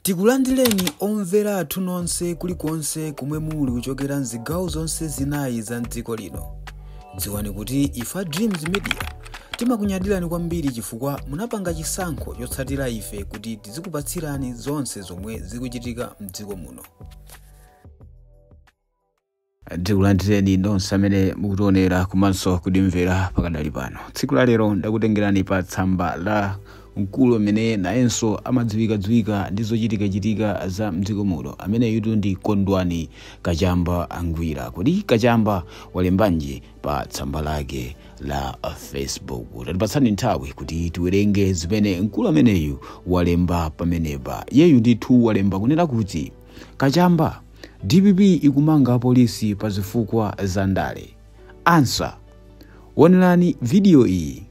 Tikulandireni omvera athu nonse kulikonse komwe muli kuchokera mzigawo zonse zinayi za mdziko lino. Dziwani kuti ife a Dreams Media timakunyadirani kwambiri chifukwa munapanga chisankho chotsatira ife kuti tizikupatsirani zonse zomwe zikuchitika mdziko muno. tikulandireni nonse amene mukutionera komanso kutimvera pakadali pano tsiku la lero ndakutengerani pa tsamba la mkulu amene nayenso amadziwikadziwika ndi zochitikachitika za mdziko muno ameneyutu ndi kondwani kachamba ngwira kodi kachamba walembanji pa tsamba lake la facebook tatipatsani nthawi kuti tiwerenge zimene mkulu ameneyu walemba pamenepa iyeyu ndithu walemba kunena kuti kachamba Dpp ikumanga apolisi pa zifukwa za ndale. Answer, Wonerani video iyi.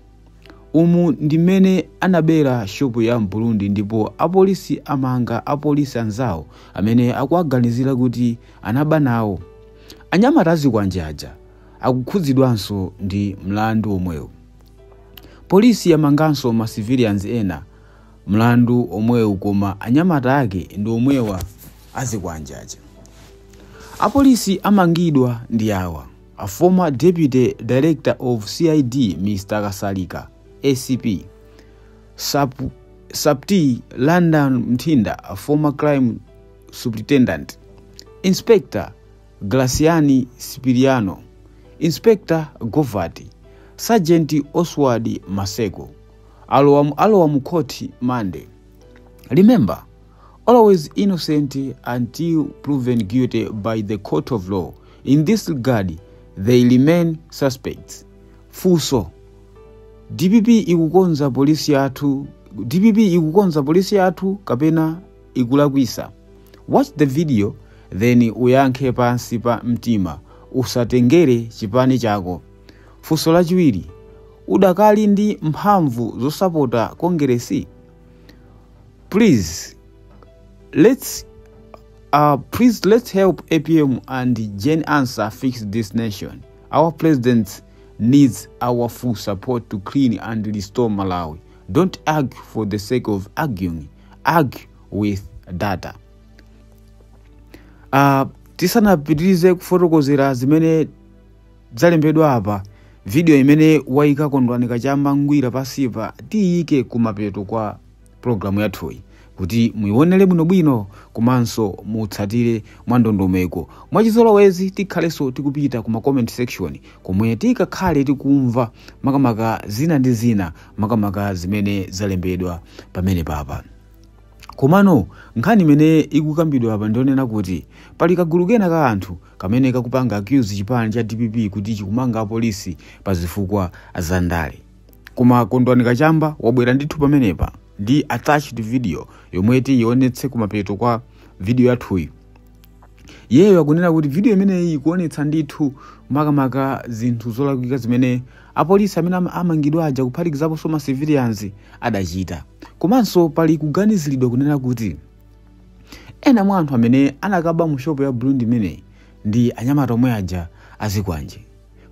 Umu ndi mmene anabera shopu ya m'Burundi ndipo apolisi amanga apolisi anzawo amene akuwaganizira kuti anaba nawo. Anyamata azikwanje aja akukhudzidwanso ndi mlandu omwewu. Polisi yamanganso ma civilians ena Mlandu omwewu koma anyamata ake ndi omwewa azikwanje aja. Apolisi amangidwa ndi awa, a former Deputy Director of CID Mr Kasalika, acp, Supt London Mthinda a former Crime Superintendent, Inspector Graciani Sipiliano, Inspector Govati, Sergeant Oswald Maseko. Alowa mu court monday. Remember always innocent until proven guilty by the court of law. In this regard they remain suspects. Funso dpp ikukonza polisi yathu kapena ikulakwisa watch the video then uyankhe pansi pa mtima usatengere chipani chako Funso lachiwiri, udakali ndi mphamvu zosapota Kongeresi? Please let's uh, please let's help APM and Gen Ansah fix this nation. Our president needs our full support to clean and restore Malawi. Don't argue for the sake of arguing. Argue with data. Uh, tisanapitirize kufotokozera zimene Zalembedwa apa, video imene waika Kondwani Kachamba Ngwira pansipa tiyike kumapeto kwa program yathuyi kuti muionere bwinobwino komanso mutsatire mwandondomeko. Mwachizolowezi tikhalenso tikupita ku ma comment section komwe tikakhale tikumva makamaka zina ndi zina makamaka zimene zalembedwa pamene papa. Komano nkhani imene ikukambidwa apa ndi yonena kuti pali kagulu kena ka anthu kamene kakupanga accuse chipani cha dpp kuti chikumanga apolisi pa zifukwa za ndale koma kondwani kachamba wabwera ndithu pamenepa ndi attached video yomwe tiyionetse kumapeto kwa video yathuyi yeyo akunena kuti video imeneyi ikuonetsa ndithu makamaka zinthu zolakwika zimene apolisi amene ama- amangidwa aja kuphatikizaponso ma civilians adachita komanso pali kuganiziridwa kunena kuti ena mwa anthu amene anakaba mu shopu ya burundi imeneyi ndi anyamata omwe aja azikwanje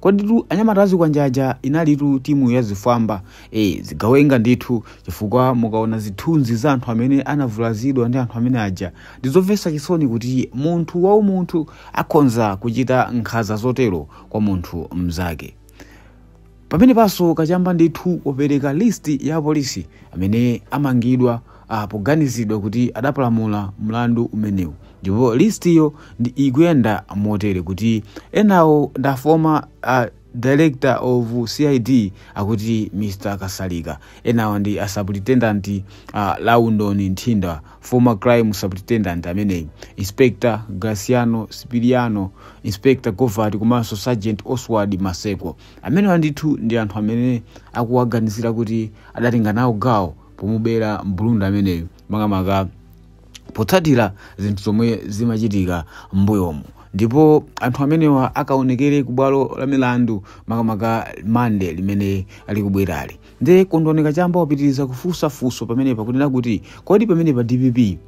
koditu anyamata azikwanje aja inalitu timu ya zifwamba e, zigawenga ndithu chifukwa mukaona zithunzi za anthu amene anavulazidwa ndi anthu amene aja ndi zomvetsa chisoni kuti munthu waumunthu akhonza kuchita nkhanza zotero kwa munthu mnzake Pamenepanso kachamba ndithu wapereka list ya apolisi amene amangidwa ah, poganizidwa kuti adapalamula mlandu umenewu ndipo listiyo ikuyenda motere kuti enawo ndi a former ah, director of cid akuti mr kasalika enawo ndi a superintendent uh, london nthinda former crime superintendent ameneyi inspector graciano spiriano inspector govati komanso sergeant oswald maseko amenewa ndithu ndi anthu amene akuwaganizira kuti adatenga nawo gawo pomubera mburundi ameneyo makamaka potsatira zinthu zomwe zimachitika m'mbuyomu ndipo anthu amenewa akaonekere ku bwalo la milandu makamaka monday limene likubwerali nde kondwani kachamba wapitiriza kufunsa funso pamenepa kunena kuti kodi pamenepa dpp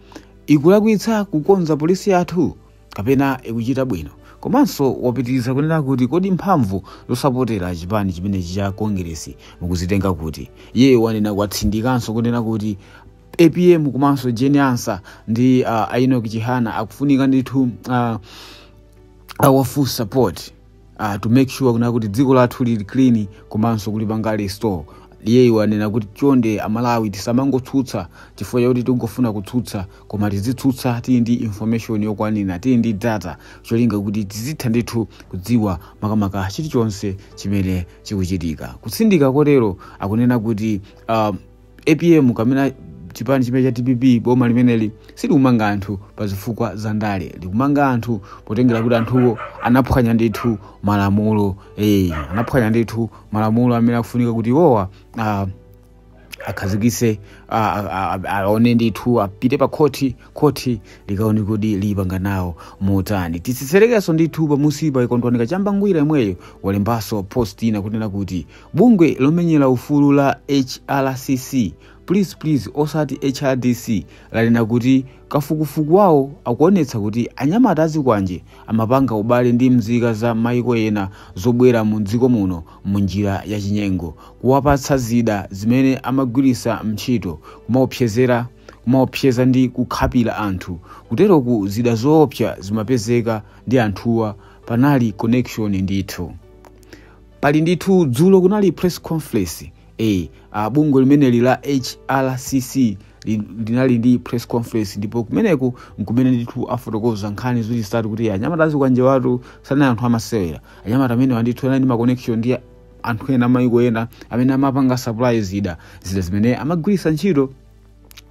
ikulakwitsa kukonza polisi yathu kapena ikuchita bwino komanso wapitiriza kunena kuti kodi mphamvu zosapotera chipani chimenechi cha kongeresi mukuzitenga kuti iye wanena kutsindikanso kunena kuti apm komanso jane ansah ndi uh, a enoch chihana akufunika ndithu uh, our full support uh, to make sure kunena kuti dziko lathu lili clean komanso kulipanga restore iyeyo wanena kuti chonde amalawi tisamangotsutsa chifukwa chakuti tikungofuna kutsutsa koma tizitsutsa tili ndi information yokwanira tili ndi data cholinga kuti tizitha ndithu kudziwa makamaka chilichonse chimene chikuchitika kutsindika kotero akunena kuti uh, apm kapena chipani chimenechi cha dpp boma limeneli silikumanga anthu pa zifukwa za ndale likumanga anthu potengera kuti anthuwo anaphwanya ndithu malamulo eh, anaphwanya ndithu malamulo amene akufunika kuti iwowa ah, akhazikise a- a- a- aone ndithu apite pa khoti khoti likaone kuti lipanga nawo motani titsetserekenso ndithu pamusipa kondwani kachamba ngwira yemweyo walembanso post ina kunena kuti Bungwe lomenyera ufulu la HRCC, please please osati hrdc, lanena kuti kafukufuku wawo akuonetsa kuti anyamata azikwanje amapanga ubale ndi mzika za maiko ena zobwera mu dziko muno mu njira ya chinyengo, kuwapatsa zida zimene amagwirisa ntchito, kumaopsezera, kumaopseza ndi kukhapira anthu. Kuteroku zida zoopsa zimapezeka ndi anthuwa. Panali connection ndithu. pali ndithu dzulo kunali press conference eh, ah, bungwe limeneli la hrcc li- linali ndi press conference ndipo kumeneko nkumene ndithu afotokoza nkhani zoti zitatu kuti anyamata azikwanjewatu sanali anthu amasewera anyamata amenewa ndithu anali ndi ma connection ndi anthu ena amayiko ena amene amapanga supply zida zida zimene amagwiritsa ntchito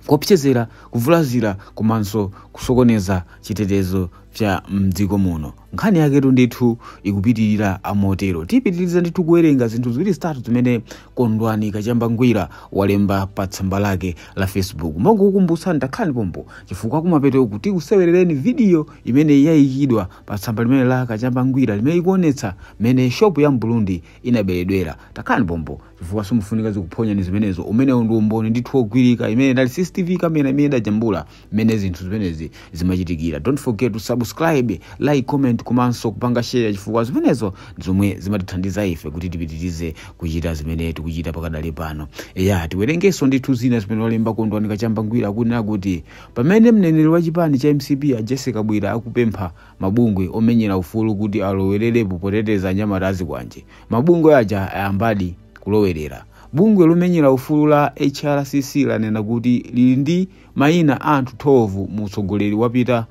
kuopsezera kuvulazira komanso kusokoneza chitetezo cha mdziko muno nkhani yaketu ndithu ikupitirira amwetero tipitiriza ndithu kuwerenga zinthu ziwiri zitatu zimene kondwani kachamba ngwira walemba pa tsamba lake la facebook mongokukumbutsani takhalani pompo chifukwa kumapetoku tikusewerereni vidiyo imene yayikidwa pa tsamba limene la kachamba ngwira limene ikuonetsa mmene shopu ya mburundi inaberedwera takhalani pompo chifukwa simukufunika zikuphonyeni zimenezo umenewo ndi umboni ndithu wogwirika imene inali cctv kamera imene idajambula mmene zinthu zimenezi zimachitikira don't forget to subscribe like comment komanso kupanga share chifukwa zimenezo ndi zomwe zimatithandiza ife kuti tipitirize kuchita zimene tikuchita pakadali pano eya tiwerengenso ndithu zina zimene walemba kondwani kachamba ngwira akunena kuti pamene mneneri wa chipani cha mcp a jessie kabwila akupempha mabungwe omenyera ufulu kuti alowererepo poteteza anyamata azikwanje mabungwe aja ayambadi kulowerera bungwe lomenyera ufulu la hrcc lanena kuti lili ndi mayina a anthu 12 mu utsogoleri wapita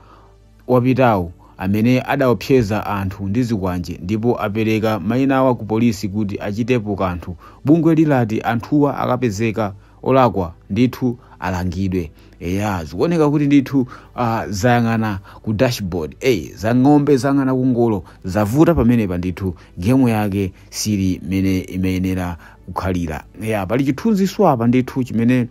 wapitawo amene adaopseza anthu ndi zikwanje ndipo apereka mayinawa ku polisi kuti achitepo kanthu bungwe lilati anthuwa akapezeka olakwa ndithu alangidwe eya zikuoneka kuti ndithu uh, zayang'ana ku dashboard ey za ng'ombe zayang'ana ku ngolo zavuta pamenepa ndithu gemu yake sili mmene imayenera kukhalira eya pali chithunzinso apa ndithu chimene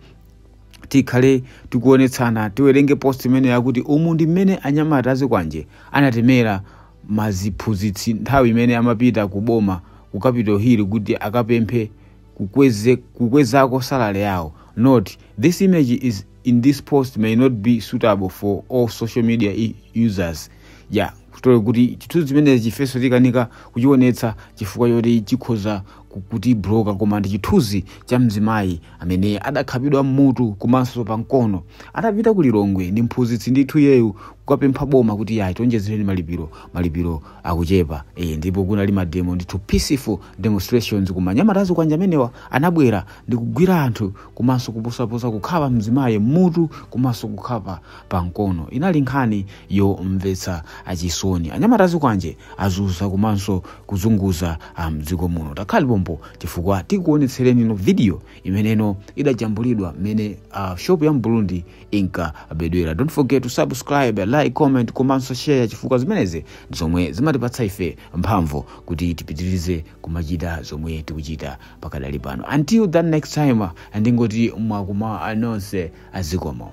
tikhale tikuonetsana tiwerenge post imene yakuti umu ndi mmene anyamata azikwanje anatemera maziphunzitsi nthawi imene amapita ku boma ku capital hill kuti akapemphe kukweze kukwezako salary yawo note this image is in this post may not be suitable for all social media i- users ya kuteroko kuti chithunzi chimenechi ifenso tikanika kuchionetsa chifukwa choti chikhoza ku- kutibloka koma ndi chithunzi cha mzimayi amene adakhapidwa mmutu komanso pa mkono atapita ku lilongwe ndi mphunzitsi ndithu iyeyu kukapempha boma kuti ya tionjezereni malipiro malipiro akuchepa e, ndipo kunali mademo ndithu peaceful demonstrations koma anyamata azikwanje amenewa anabwera ndi kugwira anthu komanso kuposaposa kukhapa mzimayi mmutu komanso kukhapa pa mkono inali nkhani yomvetsa chisoni anyamata azikwanje azunza komanso kuzunguza ah, mdziko muno takhalani pompo chifukwa tikuonetseraninso video imene idajambulidwa mmene ah, shop ya mburundi inkabedwera don't forget to subscribe like comment komanso share chifukwa zimenezi ndi zomwe zimatipatsa ife mphamvu kuti tipitirize kumachita zomwe tikuchita pakadali pano until that next time ndingoti mwakuma anonse zikomo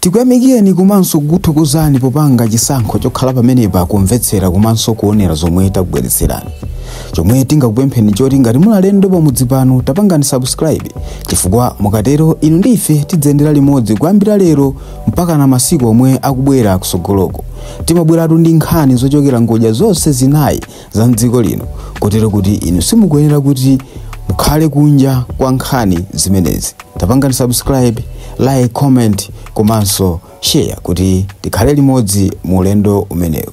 tikuyamikireni komanso kukuthokozani popanga chisankho chokhala pamenepa kumvetsera komanso kuonera zomwe takubweretserani chomwe tingakupempheni choti ngati muli alendo pamudzi pano tapangani subscribe chifukwa mukatero inu ndi ife tidziyendera limodzi kuyambira lero mpakana masiku omwe akubwera kusogoloko timabweratu ndi nkhani zochokera ngodya zonse zinayi za mdziko lino kotero kuti inu simukuyenera kuti mukhale kunja kwa nkhani zimenezi tapangani subscribe like comment komanso share kuti tikhale limodzi mu ulendo umenewu